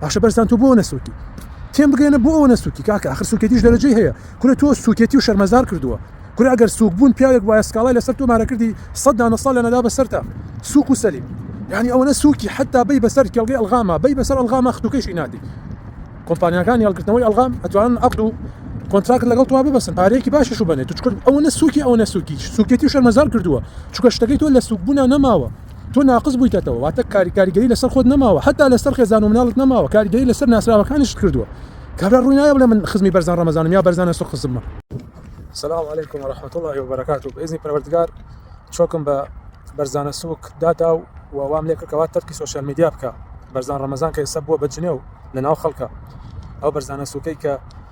باشە بەرزان تۆ بۆ نەسوکی تێم بگەێنە بۆ ئەوە نەسوکی کاکە ئەخر سوکێتیش دەرەجەی هەیە کورە تۆ سوکێتی و شەرمەزار کردووە کورە ئەگەر سوک بوون پیاوێک وایە سکاڵای لەسەر تۆ مارە کردی سەد دانە ساڵ لە نەدا بەسەرتا سوک و سەلیم یعنی ئەوەنە سوکی حتا بی بەسەر کێڵگەی ئەلغاما بی بەسەر ئەلغاما ختوکەشی نادی کۆمپانیەکانی هەڵگرتنەوەی ئەلغام ئەتوانن عقد و کۆنتراکت لەگەڵ توا ببەسن پارەیەکی باشش و بنێت چکرد ئەوەنە سوکی ئەوەنە سوکی سوکێتی و شەرمەزار کردووە چکە شتەکەی تۆ لە سوکبوونا نەماوە تۆ ناقس بوویتەتەوە واتە کاری کاریگەری لەسەر خۆت نەماوە هەتا لەسەر خێزان و مناڵت نەماوە کاریگەری لەسەر ناسراوەکانیشت کردووە کابرا ڕووی نایە بڵێ من خزمی بەرزان ڕەمەزانم یا بەرزانە سوق خزممە سلام علیکم ورحمة الله وبركاته بإذن پەروەردگار چۆکم بە بەرزانە سوک دادا و وام لێ کردکەوە تەرکی سوسیال میدیا بکە بەرزان ڕەمەزان کە ئێستا بووە بە جنێو لە ناو خەڵکە ئەو بەرزانە سوکەی کە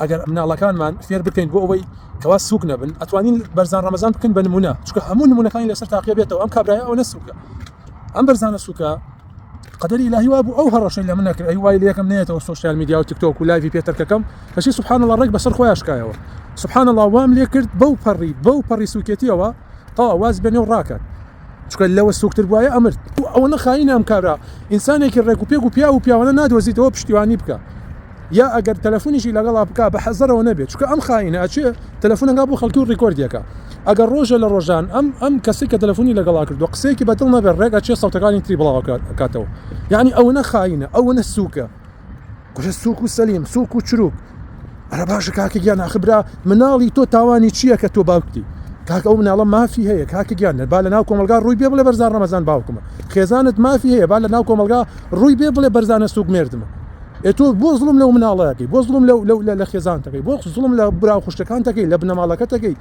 ئەگەر مناڵەکانمان فێر بکەین بۆ ئەوەی کەوا سوک نەبن ئەتوانین بەرزان ڕەمەزان بکەن بە نمونە چکە هەموو نمونونەکانی لەسەر تاقیە بێتەوە ئەم کابراە ئەو نەسوکە ئەم بەرزانە سوکە قدری لا هیوا بوو ئەو هەڕەشەی لە منەکرد ئەی وای لەکەم نێتەوە سوسیال میدیا و تکتۆک و لایوی پێتەکەکەم کەشی سبحان الله ڕێک بەسەر خۆیاشکایەوە سبحان الله وام لێ کرد بەو پەڕی بەو پەڕی سوکێتیەوە تا واز بێنێ و ڕاکات چونکە لەوە سوکتر بوایە ئەمرد و ئەوەنە خاینە ئەم کارە ئینسانێکی ڕێک و پێک و پیاو و پیاوانە نادۆزیتەوە پشتیوانی بکە یا ئەگەر تەلەفونیشی لەگەڵا بکە بە حەزەرەوە نەبێت چونکە ئەم خاینە ئەچێ تەلەفونەکە بۆ خەڵکی و ڕیکۆردیەکە ئەگەر ڕۆژە لە ڕۆژان ئەم ئەم کەسی کە تەلەفونی لەگەڵا کردو قسەیەکی بەدڵ نەبێت ڕێک ئەچێ سەوتەکانی تری بڵاوەکاتەوە یعنی ئەوەنە خاینە ئەوەنە سوکە کوژە سوک و سەلیم سوک و چروک ئەرە باشە کاکە گیان ئاخبرا مناڵی تۆ تاوانی چییە کە تۆ باوکتی کاک ئەو مناڵە مافی هەیە کاکە گیان با لە ناو کۆمەلگا ڕووی بێ بڵێ بەرزان ڕەمەزان باوکمە خێزانت مافی هەیە با لە ناو کۆمەلگا ڕووی بێ بڵێ بەرزانە سوک مردمە ئێتۆ بۆ زڵم لەو مناڵەکەی بۆ زڵم لەو لە خێزانتەکەی بۆ زڵم لە برا خوشتەکانتەکەی لە بنەماڵەکەتەکەی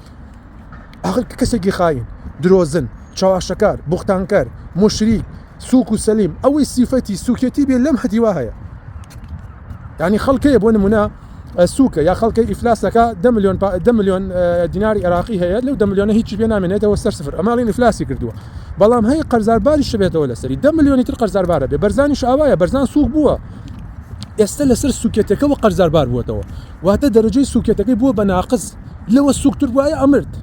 ئاخر کە کەسێکی خاین، درۆزن، چەواشەکار، بوختانکەر، موشریک، سووک و سەلیم، ئەوەی سیفەتی سووکێتی بێ لەم هەتیوا هەیە. یعنی خەڵکەیە بۆ نمونە سووکە یا خەڵکەی ئیفلاسەکە دە ملیۆن دە ملیۆن دیناری عێراقی هەیە لەو دە ملیۆنە هیچی پێ نامێنێتەوە سەر سفر ئەماڵین ئیفلاسی کردووە بەڵام هەیە قەرزارباری شبێتەوە لەسەری دە ملیۆنی تر قەرزاربارە بێ بەرزانیش ئاوایە بەرزان سووک بووە ئێستا لەسەر سوکێتەکەەوە قەرزاربار بووەتەوە واتە دەرەجەی سوکێتەکەی بووە بە ناقز لەوە سوکتر بوایە ئەمرد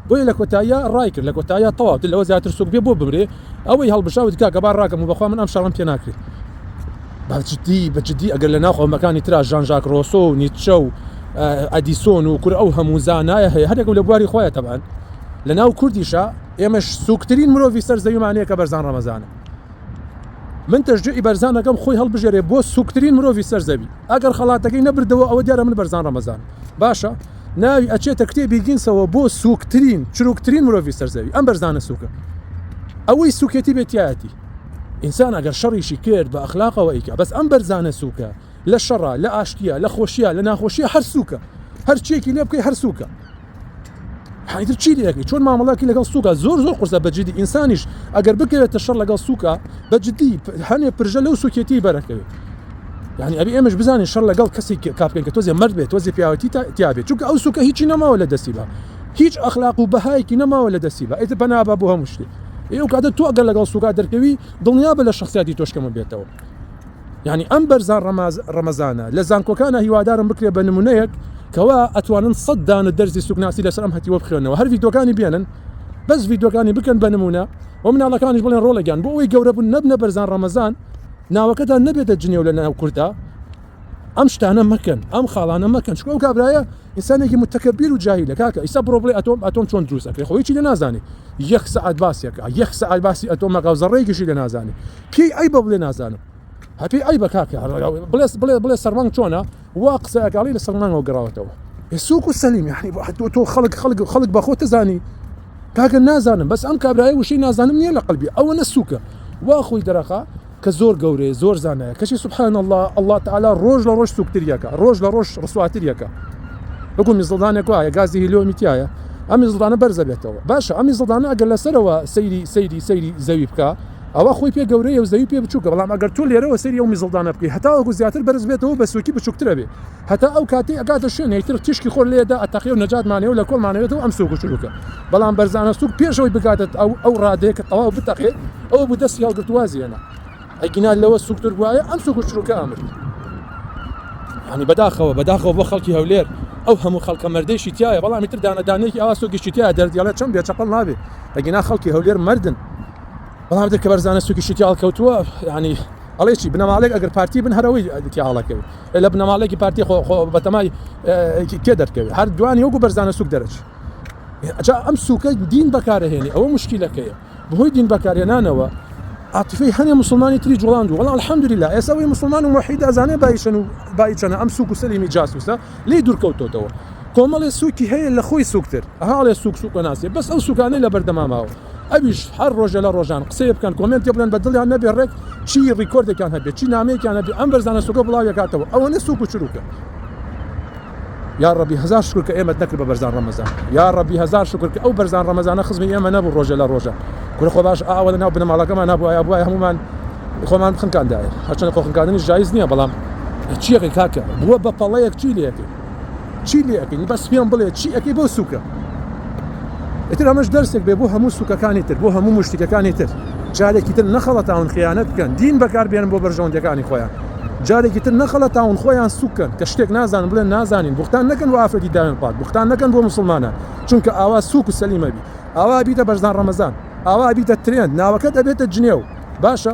بۆیە لە کۆتاییا ڕای کرد لە کۆتاییا تەواو لەوە زیاتر سوک بێ بۆ بمرێ ئەوەی هەڵبژا وتی کاکە با ڕاکەم و بەخوا من ئەم شەڕەم پێ ناکرێ بە جدی بە جدی ئەگەر لە ناو قەومەکانی ترا ژان ژاک ڕۆسۆ و نیتچە و ئەدیسۆن و کورە ئەو هەموو زانایە هەیە هەرێک و لە بواری خۆیان تەبان لە ناو کوردیشە ئێمەش سوکترین مرۆڤی سەر زەویمان هەیە کە بەرزان ڕەمەزانە من تەشجوعی بەرزان ئەکەم خۆی هەڵبژێرێ بۆ سوکترین مرۆڤی سەر زەوی ئەگەر خەڵاتەکەی نەبردەوە ئەوە دیارە من بەرزان ڕەمەزانم باشە ناوی ئەچێتە کتێبی گینسەوە بۆ سوکترین چروکترین مرۆڤی سەر زەوی ئەم بەرزانە سوکە ئەوەی سوکێتی بێتیایەتی ئینسان ئەگەر شەڕیشی کرد بە ئەخلاقەوە ئیکە بەس ئەم بەرزانە سوکە لە شەڕە لە ئاشتیە لە خۆشیە لە ناخۆشیە هەر سووکە هەر چیەکی لێ بکەی هەر سووکە حیدر چی لەکەی چۆن مامەڵاکی لەگەڵ سووکە زۆر زۆر قرسە بەجددی ئینسانیش ئەگەر بکەوێتە شەر لەگەڵ سووکە بەجددی هەنێ پرژە لەو سوکێتی بەرەکەوێت یعنی ئەبی ئێمەش بزانین شەر لەگەڵ کەسی کاپکەن کە تۆزێ مرد بێت تۆزی پیاوەتی تیاابێت چونکە ئەو سوکە هیچی نەماوە لە دەستی بە هیچ ئەخلاق و بەهایەکی نەماوە لە دەستی بە ئیتر بەنابە بۆ هەموو شتێ ئێو کاتە تۆ ئەگەر لەگەڵ سوکا دەرکەوی دڵنیا بە لە شخصیاتی تۆشکەمە بێتەوە یانی ئەم بەرزان ڕەماز ڕەمەزانە لە زانکۆکانا هیوادارم بکرێ بە نمونەیەک کەوا ئەتوانن سەد دانە دەرزی سوکناسی لەسەر ئەم هەتیوە بخوێنەوە هەر ڤیدۆکانی بێنن بەس ڤیدۆکانی بکەن بە نمونە و مناڵەکانیش بڵێن ڕۆڵە گیان بۆ ئەوی گەورە بوون نەبنە بەرزان ڕەمەزان ناوەکەتان نەبێتە جنێو لە ناو کوردا ئەم شتانە مەکەن ئەم خاڵانە مەکەن چکۆ ئەو کابرایە ئینسانێکی متەکەبیر و جاهیلە کاکە ئیستا بڕۆ بڵێ ئەتۆم ئەتۆم چۆن دروست ئەکرێ خۆ هیچی لێ نازانی یەک سەعات باسی ئەکا یەک سەعات باسی ئەتۆم ئەکا و زەڕەیەکیشی لێ نازانی پێی عەیبە بڵێ نازانم هە پێی عەیبە کاکە بڵێ بڵێ بڵێ سەرمانگ چۆنە وا قسە ئەکا بڵێ لە سەرمانگەوە گەڕاوەتەوە سوک و سەلیم یعنی تۆ تۆ خەڵک خەڵک خەڵک بە خۆ تزانی کاکە نازانم بەس ئەم کابرایە وشەی نازانم نییە لە قەلبی ئەوەنە سوکە وا خۆی دەرەخا کە زۆر گەورەیە زۆر زانایە کەچی سبحان اللە اللە تعالی ڕۆژ لە ڕۆژ سوکتریەکە ڕۆژ لە ڕۆژ ڕسواتریەکە وەکو میزڵدانێک وایە گازی هیلۆمی تایە ئەمی زڵدانە بەرزە بێتەوە باشە ئەمی زڵدانە ئەگەر لەسەرەوە سەیری سەیری سەیری زەوی بکە ئەوە خۆی پێ گەورەیە و زەوی پێ بچووکە بەڵام ئەگەر تۆ لێرەوە سەری ئەو میزڵدانە بکەی هەتاوەکو زیاتر بەرز بێتەوە بە سوکی بچووکترە بێ هەتا ئەو کاتەی ئەگاتە شوێنێک تر تیشکی خۆر لێ دا ئەتەقێ و نەجاتمانەوێ و لە کۆڵمان ئەوێتەوە ئەم سووک و چرووکە. بەڵام بەرزانە سووک پێش ئەوەی بگاتە ئەو ئەو ڕادەیە کە تەواو بتەقێ ئەوە بوو دەستی هەڵگرت و وازی هێنا. ئەگینا لەوە سووکتر بوایە ئەم سووک و چرووکە ئەمرد. یانی بەداخەوە بەداخەوە بۆ خەڵکی هەولێر ئەو هەموو خەڵکە مەردەیشی تیایە بەڵام ئیتر دانە دانەیەکی ئاوا سووکیشی تیایە دەردیڵێ چەم بێ چەپەڵ نابێ ئەگینا خەڵکی هەولێر مەردن بەڵام ئیتر کە بەرزانە سووکیشی تیا هەڵکەوتووە یانی ئەڵێی چی بنەماڵەیەک ئەگەر پارتی بن هەر ئەوەی تیا هەڵەکەوێ. ئێلە بنەماڵەیەکی پارتی خۆ خۆ بەتەمای کێ دەرکەوێت هەر دوانی وەکو بەرزانە سوک دەرەچی ئەجا ئەم سوکە دین بەکارهێنی ئەوە مشکیلەکەیە بەهۆی دین بەکارهێنانەوە عاطفی هەنێ مسلمانی تری جوڵاند و وڵا الحمدلله ئێستا وی مسلمان و موحید ئەزانێ بایشن و بایچەنە ئەم سوک و سەلیمی جاسوسە لی دوورکەوتۆتەوە کۆمەڵێ سوکی هەیە لە خۆی سوکتر هاڵێ سوک سوکە ناسێ بەس ئەو سوکانەی لە بەردەماماوە ئەویش هەر ڕۆژێ لە ڕۆژان قسەیێ بکەن کۆمێنتێ بڵێن بە دڵیان نەبێ ڕێک چی ڕیکۆردێکیان هەبێ چی نامەیەکیان هەبێ ئەم بەرزانە سووکە بڵاوی ئەکاتەوە ئەوەنە سووک و چرووکە یا ڕەبی هەزار شکر کە ئێمەت نەکرد بە بەرزان ڕەمەزان یا ڕەبی هەزار شکر کە ئەو بەرزان ڕەمەزانە خزمی ئێمە نەبوو ڕۆژێ لە ڕۆژان کورە خۆ باش ئاوە لە ناو بنەماڵەکەمان نابووایە بووای هەمومان خۆمان بخنکاندایە هەرچەند خۆخنکاندنی جایز نییە بەڵام چیەکەی کاکە بووە بە پەڵەیەک چی لێکەی چی لێ ئەکەی بەس پێم بڵێ چی ئەەکەی بۆ سوکە ئتر ئەمەش دەرسێک بێ بۆ هەموو سوکەکانی تر بۆ هەموو مشتەکانی تر جارێکی تر نەخەڵە تاون خیانەت بکەن دین بەکاربێنن بۆ بەرژەوەندەکانی خۆیان جارێکی تر نەخەڵە تاون خۆیان سوکەن کە شتێک نازانن بڵێن نازانین بختان نەکەن و ئافرەتی داوێن پات بختان نەکەن بۆ مسلمانان چونکە ئاوا سوک و سەلیمەبی ئاوا بیتە بەرزان ڕەمەزان ئاوا بیتە ترێن ناوەکەت ئەبێتە جنێو باشە